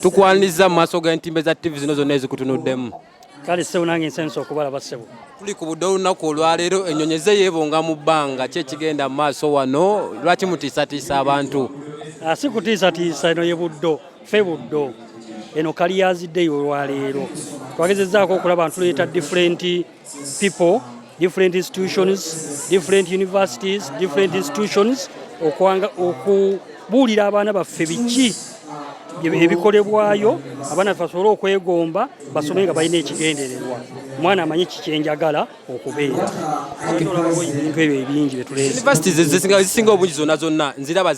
tukwaniriza mu maaso g'entimbe za ttivi zino zonna ezikutunuddemu kale ssebo nange nsensa okubalaba ssebo tuli ku budde olunaku olwaleero ennyonyi ze yeebonga mu bbanga ki ekigenda mu maaso wano lwaki mutiisatiisa abantu ah, si kutiisatiisa eno ye buddo fe buddo eno kaliyaziddeyo olwaleero twagezezaako okulaba ntuleeta differenti people different institutions different universities different institutions okwanga okubuulira abaana baffe biki ebikolebwayo abaana baffe basobole okwegomba basome nga balina ekigendererwa omwana amanyi kikyenjagala okubeera ebintu ebyo ebingi byetulezisinga obungi zonna zonna nziraba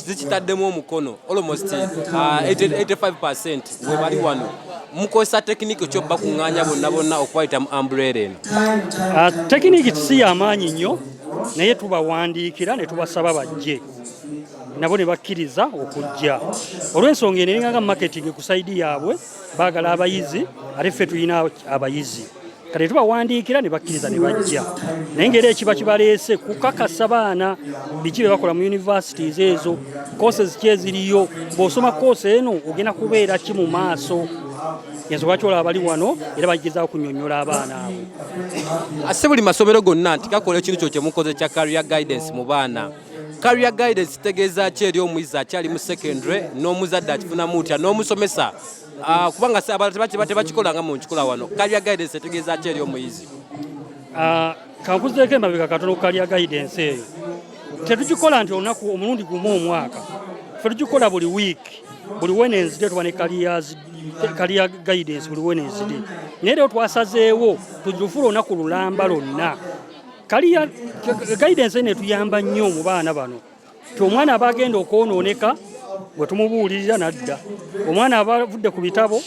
zikitaddemu omukono almost 85 uh, percent webali wano mukozesa tekiniki kyo bakuŋŋaanya bonna bonna okubayita mu ambuleera eno ah, tekiniki si yamaanyi nnyo naye tubawandiikira ne tubasaba bajje nabo ne bakkiriza okujja olw'ensonga eno eringanga marketing ku saidi yaabwe baagala abayizi ate ffe tulina abayizi kati tubawandiikira ne bakkiriza ne bajja naye ngaera ekiba kibaleese kukakasa baana biki bye bakola mu universities ezo courses ki eziriyo bw'osoma course eno ogenda kubeera ki mu maaso yenza lwaki olaba bali wano era bagezaako kunyonyola abaana abo ase buli masomero gonna nti gakola ekintu kyo kyemukoze kya career guidance mu baana career guidance kitegeeza ki eri omuyizi akyali mu secondary n'omuzadde akifunamu utya n'omusomesa Ah, kubanga tebakikolanga mu nkikola wano kalya guidance etegeeza ki eri omuyizi ah, kankuzeeko emabega katono kalya guidance eyo tetugikola nti olunaku omulundi gumu omwaka fe tugikola buli wiiki buli wednesday tuba ne kaliya guidance buli wednesday naye lero twasazeewo tugifula olunaku lulamba lonna kaliya guidance netuyamba nnyo mu baana bano nti omwana aba agenda okwonooneka bwe tumubuulirira n'adda omwana aba avudde ku bitabo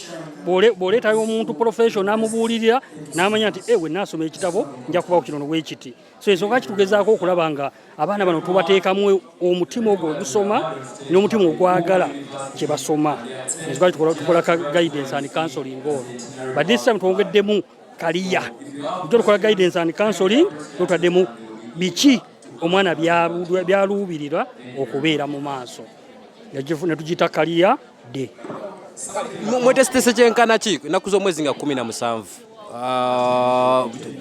bw'oleetayo omuntu profession n'amubuulirira n'amanya nti ewe eh, naasoma ekitabo nja kubawo kino nowekiti so ensonga kitugezaako okulaba nga abaana bano tubateekamu omutima ogwo ogusoma n'omutima ogwagala kye basoma ensonga tukola ka guidance and counseling ono but this time twongeddemu kaliya ojo tukola guidance and counseling notwaddemu biki omwana byaluubirirwa okubeera mu maaso netugita kaliya de mwetesitese kyenkana ki ennaku z'omwezi nga kumi na musanvu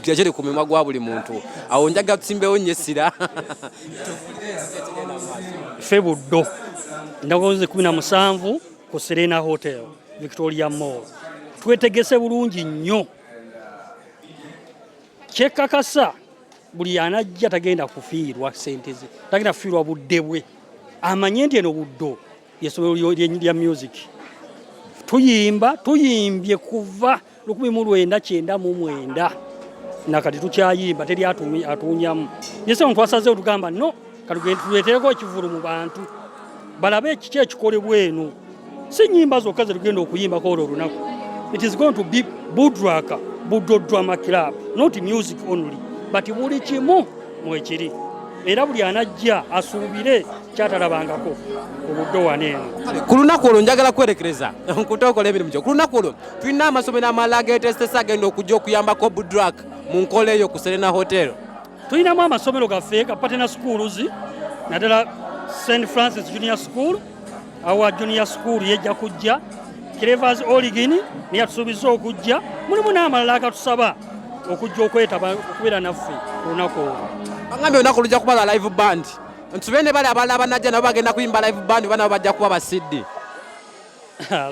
gyekiri ah, ku mimwa gwa buli muntu awo njaga tusimbewo nyo essira fe buddo ndagozi kumi na musanvu ku serena hotel victoria mall twetegese bulungi nnyo kyekakasa buli anajja tagenda kufiirwa sente ze tagenda kufiirwa budde bwe amanye nti eno buddo yesomero lya music tuyimba tuyimbye kuva lukumi mu lwenda kyenda mu mwenda nakati tukyayimba teri atuunyamu yese omuntu asaze otugamba no katuleetereko ekivulu mu bantu balabe ekiki ekikolebwa eno si nyimba zokka zetugenda okuyimbako olwo olunaku it is going to be budraka budodrama club not music only but buli kimu mwekiri era buli anajja asuubire kyatalabangako obuddo wano eno ku lunaku olwo njagala kwerekereza nkutokola emirimu gyo ku lunaku olwo tulina amasomero amalala getesitesa agenda okujja okuyambako budrak mu nkola eyo ku serena hotel Tulinamu amasomero gaffe ga patena schools naddala St Francis Junior School awa Junior School yejja kujja Clevers Origin neyatusuubiza okujja mulimu n'amalala agatusaba okujja okwetaba okubeera naffe olunaku olwo bagambye olunaku lujja kuba lwa live band ntube ne bali abalala banajja nabo bagenda kuyimba live band banabo bajja kuba basiddi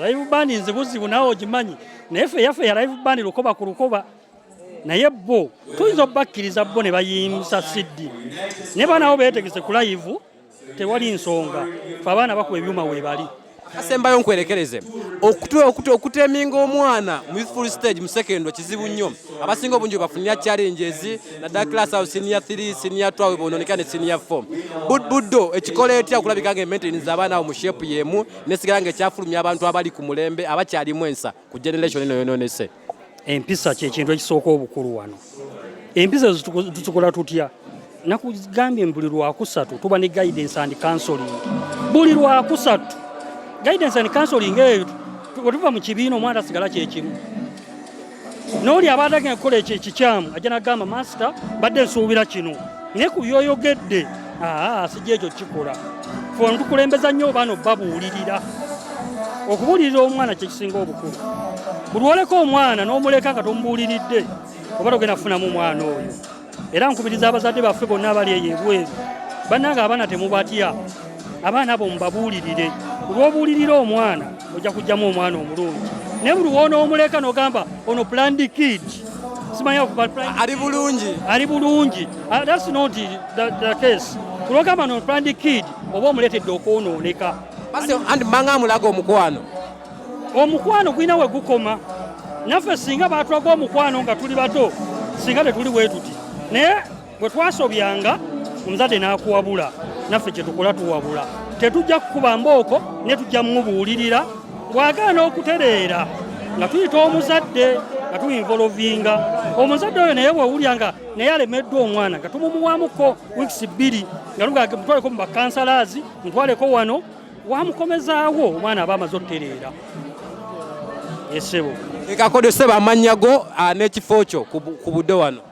live band nzibuzibu nawe ogimanyi naye fe yaffe ya live band lukoba ku lukoba naye bo tuyinza obakkiriza bo ne bayimsa siddi ne baanawo beetegese ku layivu tewali nsonga fe abaana bakuba ebyuma weebali asembayo nkwerekereze okuteminga omwana mu youthful stage mu secondary kizibu nnyo abasinga obungi webafunira challenges naddala class awo senior 3 senior 2 webononeka ne senior 4 buddo ekikola etya okulabika nga ementeni z'abaana awo mu shepu y'emu nesigala nga ekyafulumya abantu abali ku mulembe abakyalimu ensa ku generation eno yononese empisa kyekintu ekisooka obukulu wano empisa zitukola tutya nakugambye buli lwakusatu tuba ne guidance and counseling buli lwakusatu guidance and counseling eyo wetuva mu kibiina omwana asigala kyekimu nooli aba atagenda kukola ekyo ekikyamu ajja nagamba masita mbadde nsuubira kino naye ku byoyogedde aa sijja ekyo kikola fe ontukulembeza nnyo obaana obabuulirira okubuulirira omwana kyekisinga obukulu bulwoleka omwana n'omuleka nga tomubuuliridde oba togenda kufunamu omwana oyo era nkubiriza abazadde baffe bonna abali eyo ebweru bannanga abaana temubatya abaana abo mubabuulirire kulwobuulirira omwana ojja kujjamu omwana omulungi naye buli woona omuleka nogamba ono plandi kid simanyi ali bulungi ali bulungi ah, that's not the, the case kulogamba no planned kid oba omuletedde okwonooneka andi mbanga amulaga omukwano omukwano gulina we gukoma naffe singa batulaga omukwano nga tuli bato singa tetuli bwetuti naye Bwe twasobyanga omuzadde n'akuwabula naffe kye tukola tuwabula, tetujja kukuba mbooko ne tujja mubuulirira bw'agaana okutereera nga tuyita omuzadde nga tuinvolovinga omuzadde oyo naye bwewulya nga naye alemeddwa omwana nga tumumuwamuko wiks bbiri nga lugaga mutwaleko mu bakansalaazi mutwaleko wano wamukomezaawo omwana aba amaze otereera esebo ekakodeseba amannya go ah, n'ekifo kyo ku budde wano